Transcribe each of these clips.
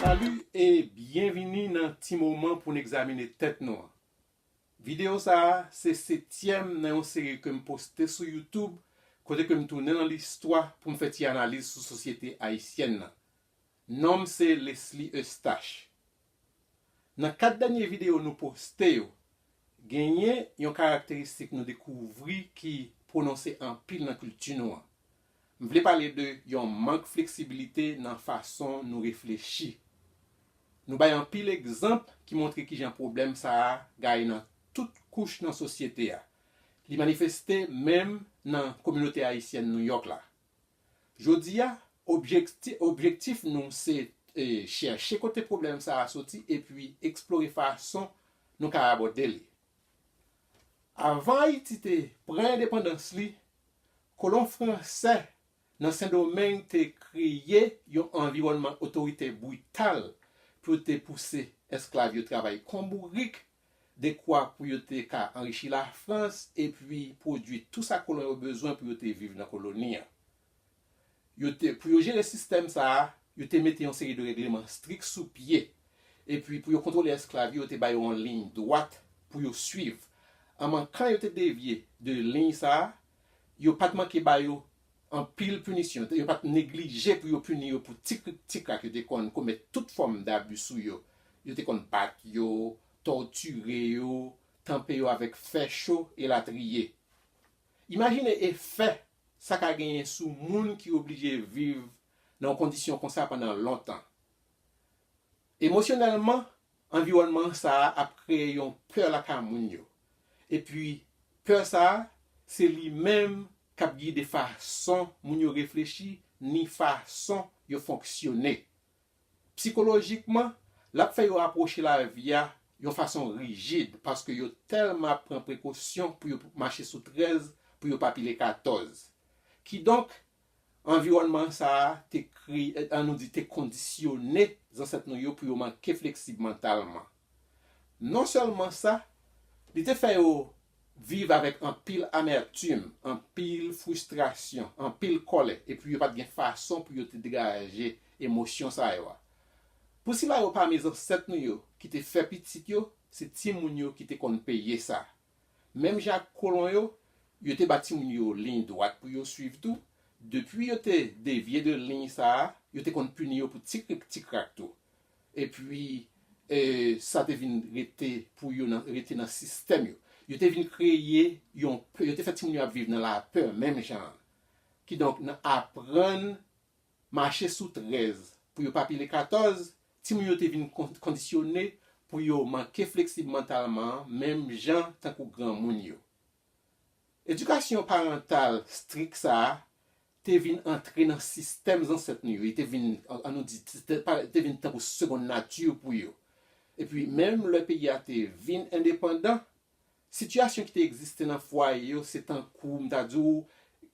Salut e byenvini nan ti moman pou n egzamine tèt nou an. Videyo sa a se setyèm nan yon seri ke m poste sou YouTube kote ke m tounen nan listwa pou m fè ti analiz sou sosyete ayisyèn nan. Non m se Lesly Eustache. Nan 4 dènye videyo nou poste yo, genyen yon karakteristik nou dekouvri ki pwononse anpil nan kilti nou an. M vle pale de yon mank fleksibilite nan fason nou reflechi. Nou bay anpil egzanp ki montre kijan pwoblèm sa a gaye nan tout kouch nan sosyete a. Li manifeste menm nan kominote ayisyèn Nouyòk la. Jodi a, objektif nou se chèche kote pwoblèm sa a soti epi eksplore fason nou ka abòde li. Avan Ayiti te pran endepandans li, kolon fransè nan Sendomeng te kreye yon anviwònman otoritè brital pou yo te pouse esklav yo travay kon bourik dekwa pou yo te ka anrichi Lafrans epi pwodui tou sa kolon yo bezwen pou yo te viv nan koloni an. Yo te, pou yo jere sistèm sa a, yo te mete yon seri de règleman strik sou pye, epi pou yo kontwole esklav yo, yo te ba yo yon liy dwat pou yo suiv. An mankan yo te devye de liy sa a, yo pa t manke ba yo Anpil pinisyon, yo pa t neglije pou yo pini yo pou ti krik ti krak yo te konn komèt tout fòm dabi sou yo, yo te konn bat yo, tòtire yo, tanpe yo avèk fè cho, elatriye. Imajine efè sa ka genyen sou moun ki oblije viv nan yon kondisyon konsa pandan lontan. Emosyonèlman, anviwònman sa a ap kreye yon pè lakay moun yo, epi pè sa a se li menm k ap gide fason moun yo reflechi ni fason yo fonksyone. Psikolojikman, l ap fè yo apwoche lavi a yon fason rijid paske yo tèlman ap pran prekosyon pou yo mache sou 13 pou yo pa pile 14. Kidonk, Anviwònman sa a te kre, an nou di te kondisyone zansèt nou yo pou yo manke fleksib mantalman. Non sèlman sa, li te fè yo viv avèk anpil amètim, anpil fristrasyon, anpil kòlè, epi yo pa t gen fason pou yo te degaje emosyon sa yo a. Pou sila yo pami zansèt nou yo ki te fè pitit yo, se timoun yo ki te konn peye sa. Menm jan ak kolon yo, yo te ba timoun yo liy dwat pou yo suiv tou. Depi yo te devye de liy sa a, yo te konn pini yo pou ti krik ti krak tou. Epi, sa te vin rete pou yo rete nan sistèm yo. Yo te vin kreye yon pè, yo te fè timoun yo ap viv nan lapè menm jan an. Kidonk, nan aprann Mache sou 13 pou yo pa pile 14, timoun yo te vin kondisyone pou yo manke fleksib mantalman menm jan tankou granmoun yo. Edikasyon parantal strik sa a te vin antre nan sistèm zansèt nou yo, li te vin, an nou di, li te vin tankou segonn nati pou yo. Epi menm lè peyi a te vin endepandan, Sitiyasyon ki te egziste nan fwaye yo se tankou m ta di w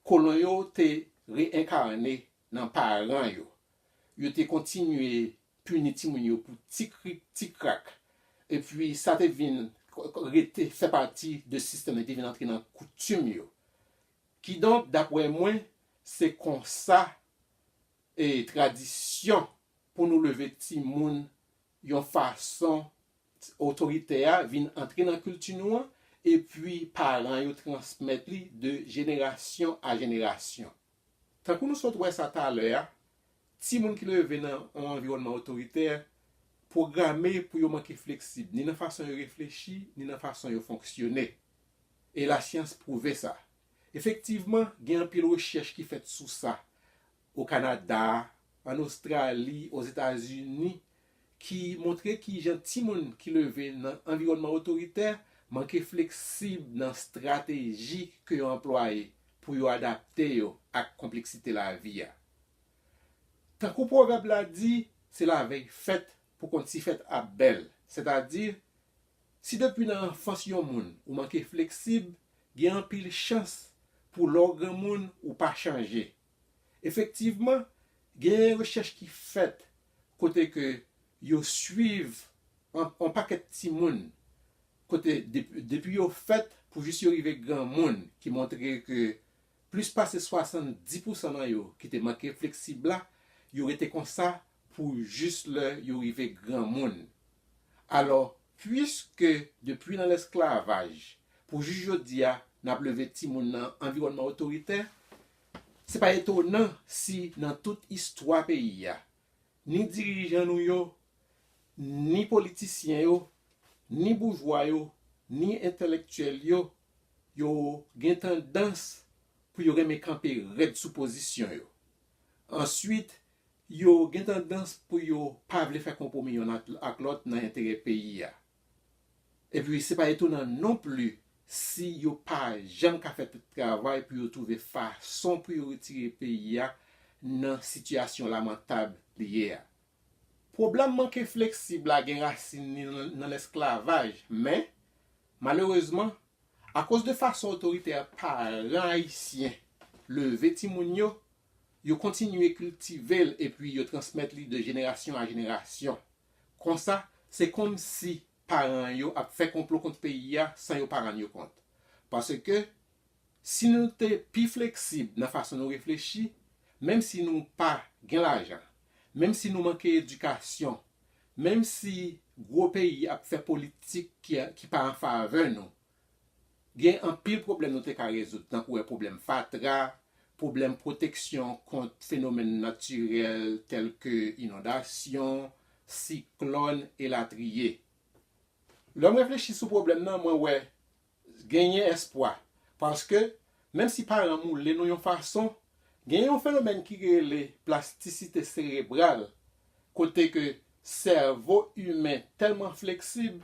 kolon yo te reenkarne nan paran yo. Yo te kontinye pini timoun yo pou ti krik ti krak. Epi sa te vin rete fè pati de sistèm yo, li te vin antre nan koutim yo. Kidonk, dapre mwen, se konsa tradisyon pou nou leve timoun yon fason otoritè a vin antre nan kilti nou an epi paran yo transmèt li de jenerasyon a jenerasyon. Tankou nou sot wè sa talè a, timoun ki leve nan yon anviwònman otoritè pwograme pou yo manke fleksib ni nan fason yo reflechi ni nan fason yo fonksyone. E lasyans pwouve sa. Efektivman, gen anpil rechèch ki fèt sou sa, o Kanada, an Ostrali, Ozetazini, ki montre ki jan timoun ki leve nan anviwònman otoritè manke fleksib nan strateji ke yo anplwaye pou yo adapte yo ak konpleksite lavi a. Tankou pwovèb la di, se lavèy fèt pou konn si fèt ap bèl, sètadi, si depi nan anfans yon moun ou manke fleksib, gen anpil chans pou lè w granmoun ou pa chanje, Efektivman, genyen rechèch ki fèt kote ke yo swiv yon pakèt timoun kote depi yo fèt pou jis yo rive granmoun ki montre ke plis pase 70 pousan nan yo ki te manke fleksib la, yo rete konsa pou jis lè yo rive granmoun. Alò, puiske depi nan lesklavaj pou jis jodi a n ap leve timoun nan anviwònman otoritè, Se pa etonan si nan tout istwa peyi a, ni dirijan nou yo, ni politisyen yo, ni boujwa yo, ni entelektyèl yo, yo gen tandans pou yo renmen kanpe rèd sou pozisyon yo. Answit, yo gen tandans pou yo pa vle fè konpwomi yonn ak lòt nan enterè peyi a. Epi se pa etonan non pli si yo pa janm ka fè tout travay pou yo twouve fason pou yo retire peyi a nan sitiyasyon lamantab li ye a. Pwoblèm manke fleksib la gen rasin li nan lesklavaj, men, malerezman, akoz de fason otoritè paran ayisyen leve timoun yo, Yo kontinye kiltive l epi yo transmèt li de jenerasyon a jenerasyon. Konsa, se kòmsi paran yo ap fè konplo kont peyi a san yo pa rann yo kont. Paske, si nou te pi fleksib nan fason nou reflechi, menm si nou pa gen lajan, menm si nou manke edikasyon, menm si gwo peyi ap fè politik ki pa an favè nou, Gen anpil pwoblèm nou te ka rezoud tankou e pwoblèm fatra, pwoblèm pwoteksyon kont fenomèn natirèl tèlke inondasyon, siklòn elatriye. Lè m reflechi sou pwoblèm nan mwen wè genyen espwa paske Menm si paran moule nou yon fason, gen yon fenomèn ki rele plastisite serebral, kote ke sèvo imen tèlman fleksib,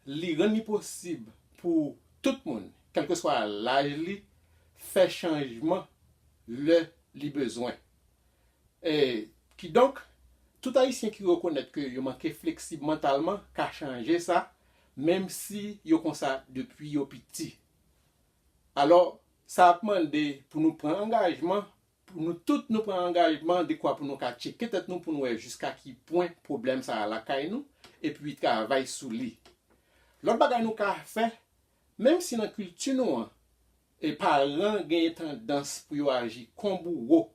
li rann li posib pou tout moun, kèlkeswa laj li, fè chanjman lè li bezwen. E, kidonk, tout Ayisyen ki rekonèt ke yo manke fleksib mantalman ka chanje sa, menm si yo konsa depi yo piti. Alò, sa ap mande pou nou pran angajman, pou nou tout nou pran angajman dekwa pou nou ka tcheke tèt nou pou nou wè jiska ki pwen pwoblèm sa a lakay nou, epi travay sou li. Lòt bagay nou ka fè, menm si nan kilti nou an, paran genyen tandans pou yo aji kon bouwo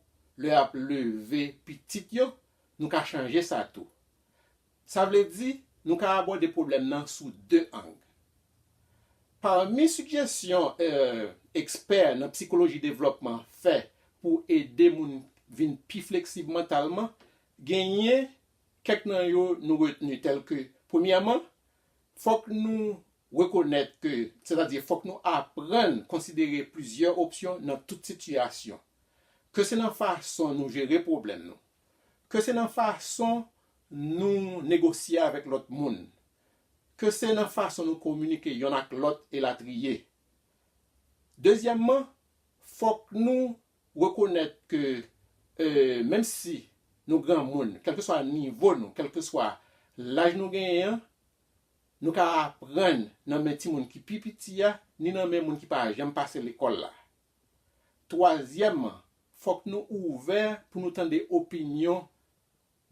lè y ap leve pitit yo, nou ka chanje sa tou. Sa vle di, nou ka abòde pwoblèm nan sou de ang. Pami sigjesyon ekspè nan psikoloji devlòpman fè pou ede moun vin pi fleksib mantalman, genyen kèk nan yo nou retni tèlke, premyèman, fòk nou rekonèt ke, sètadi fòk nou aprann konsidere plizyè opsyon nan tout sitiyasyon, ke se nan fason nou jere pwoblèm nou. ke se nan fason nou negosye avèk lòt moun, ke se nan fason nou kominike yonn ak lòt elatriye. Dezyèmman, fòk nou rekonèt ke menm si nou granmoun, kèlkeswa nivo nou, kèlkeswa laj nou genyen an, nou ka aprann nan men timoun ki pi piti a, ni nan men moun ki pa janm pase lekòl la. Twazyèmman, fòk nou ouvè pou nou tande opinyon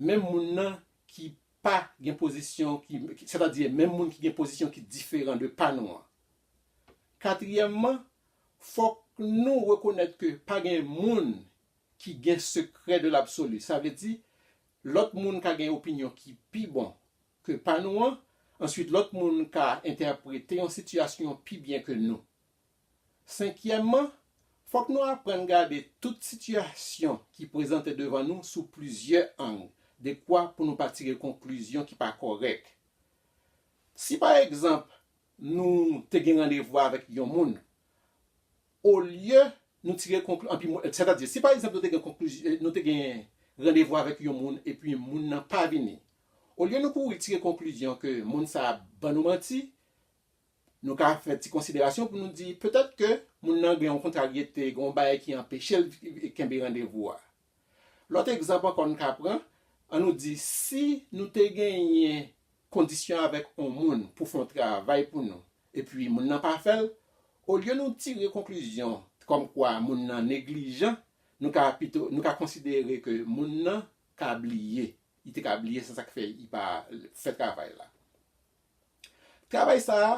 menm moun nan ki pa gen pozisyon ki, sètadi menm moun ki gen pozisyon ki diferan de pa nou an. Katriyèmman, fòk nou rekonèt ke pa gen moun ki gen sekrè de l'absolu, sa vle di, lòt moun ka gen opinyon ki pi bon ke pa nou an, answit lòt moun ka entèprete yon sitiyasyon pi byen ke nou. Senkyèmman, fòk nou aprann gade tout sitiyasyon ki prezante devan nou sou plizyè ang dekwa pou nou pa tire konklizyon ki pa kòrèk. Si pa egzanp nou te gen randevou avèk yon moun, olye nou tire konklizyon, sètadi si pa egzanp nou te gen randevou avèk yon moun epi moun nan pa vini, olye nou kouri tire konklizyon ke moun sa a ban nou manti, Nou ka fè ti konsiderasyon pou nou di, petèt ke moun nan gen yon kontraryete, gen yon bagay ki anpeche l kenbe randevou a. Lòt egzanp ankò n ka pran, an nou di si nou te genyen kondisyon avèk yon moun pou fè yon travay pou nou, epi moun nan pa fè l, olye nou tire konklizyon kòmkwa moun nan neglijan, nou ka pito, nou ka konsidere ke moun nan ka bliye, li te ka bliye se sa k fè li pa fè travay la. Travay sa a,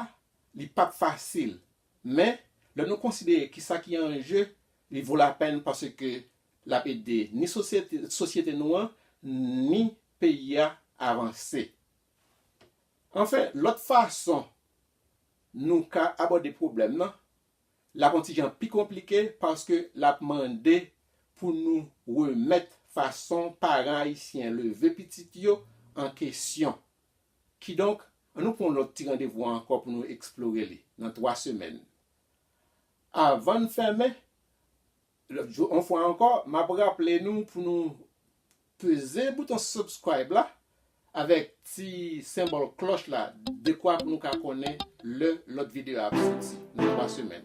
li p ap fasil, men, lè nou konsidere ki sa ki an je, li vo lapèn paske l ap ede ni sosyete sosyete nou an ni peyi a avanse. Anfen, lòt fason nou ka abòde pwoblèm nan, l ap on ti jan pi konplike paske l ap mande pou nou remèt fason paran ayisyen leve pitit yo an kesyon. Kidonk, an nou pran yon lòt ti randevou an ankò pou nou eksplore li, nan twa semèn. Avan n fèmen, yon fwa ankò, m ap raple nou pou nou peze bouton subscribe la avèk ti senbòl klòch la dekwa pou nou ka konnen lè lòt videyo a ap soti nan twa semèn.